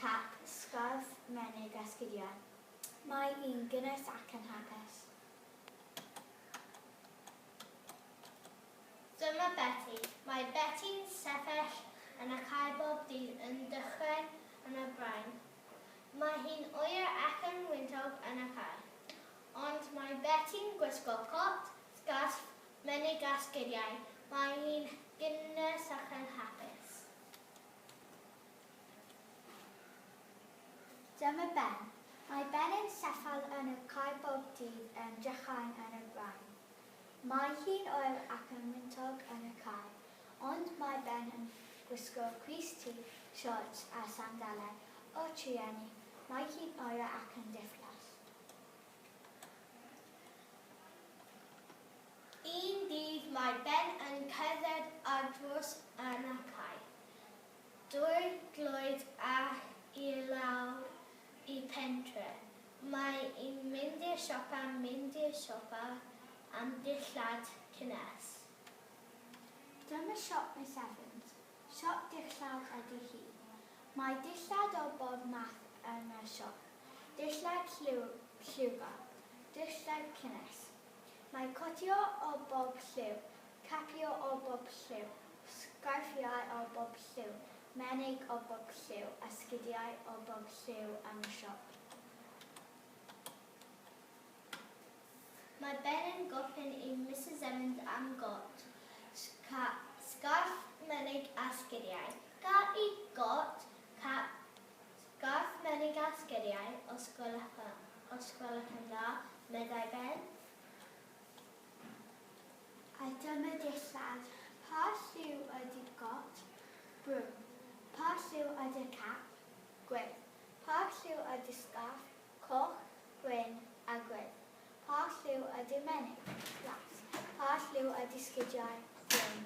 Cap, sgarff, menig a sgidiau. Mae yn gynnes ac yn hapus. Dyma Beti. Mae Beti'n sefyll yn y cae bob dydd yn dychryn yn y brain. Mae hi'n oer ac yn wyntog yn y cae. Ond mae Beti'n gwisgo cot, sgarff, menig a sgidiau. Mae hi'n gynnes ac yn hapus. Dyma Ben. Mae Ben yn sefyll yn y cae bob dydd yn drychan yn y brain. Mae hi'n oer ac yn wyntog yn y cae, ond mae Ben yn gwisgo crys tu, siorts a sandalau o trueni, mae hi'n oer ac yn diflas. Un dydd mae Ben yn cerdded ar drws yn y cae. Drwy glod ac i lawr i pentre. Mae i'n mynd i'r siopa, mynd i'r siopa am dillad cynnes. Dyma siop Miss Evans, siop dillad ydi hi. Mae dillad o bob math yn y siop, dillad lliwgar, dillad cynnes. Mae cotio o bob lliw, Capio o bob lliw, sgarffiau o bob lliw, menig o bob lliw, a sgidiau o bob lliw am y siop. Mae Ben yn gofyn i Misus Emynd am got, sgarff, menig a sgidiau. Ga i got, cap, sgarff, menig a sgidiau, os gwelwch yn dda? meddai Ben. A dyma dillad. Pa lliw ydi got? Brown. Pa lliw ydi'r cap? Gwyn. Pa lliw ydi'r sgarff? Coch, gwyn a gwyn. Pa lliw ydi'r menig? Las. Pa lliw ydi sgidiau? Brown.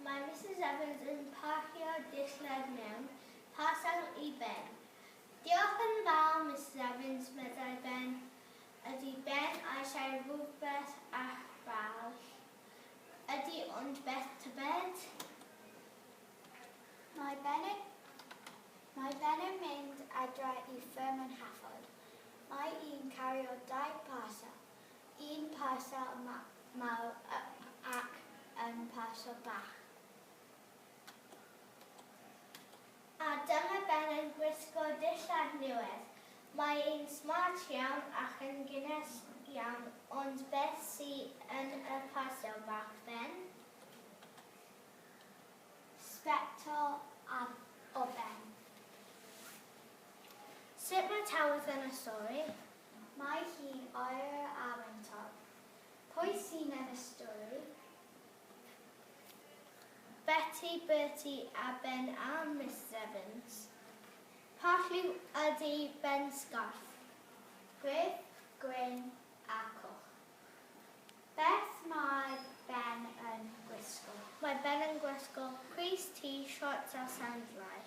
Mae Misus Evans yn parcio dillad mewn parsel i Ben. Diolch yn fawr, Misus Evans, meddai Ben. Ydy Ben eisiau rhywbeth arall? Ydy, ond beth tybed? Mae Ben yn Mae Ben yn mynd adra i fferm yn Hafod. Mae un cario dau parsel. Un parsel mawr ac un parsel bach. A dyma Ben yn gwisgo dillad newydd. Mae e'n smart iawn ac yn gynnes iawn, ond beth sy yn y parsel bach, Ben? Sbectol o Ben. Sut mae Tawydd yn y stori? Mae hi'n oer ar ein top. Pwy sy'n ennill stwri? Beti, Berti a Ben a Misus Evans. Pa lliw ydy Ben Sgorff? Gwyrdd, gwyn a coch. Beth mae Ben yn gwisgo? Mae Ben yn gwisgo crys, tŷ, siorts a sandlau.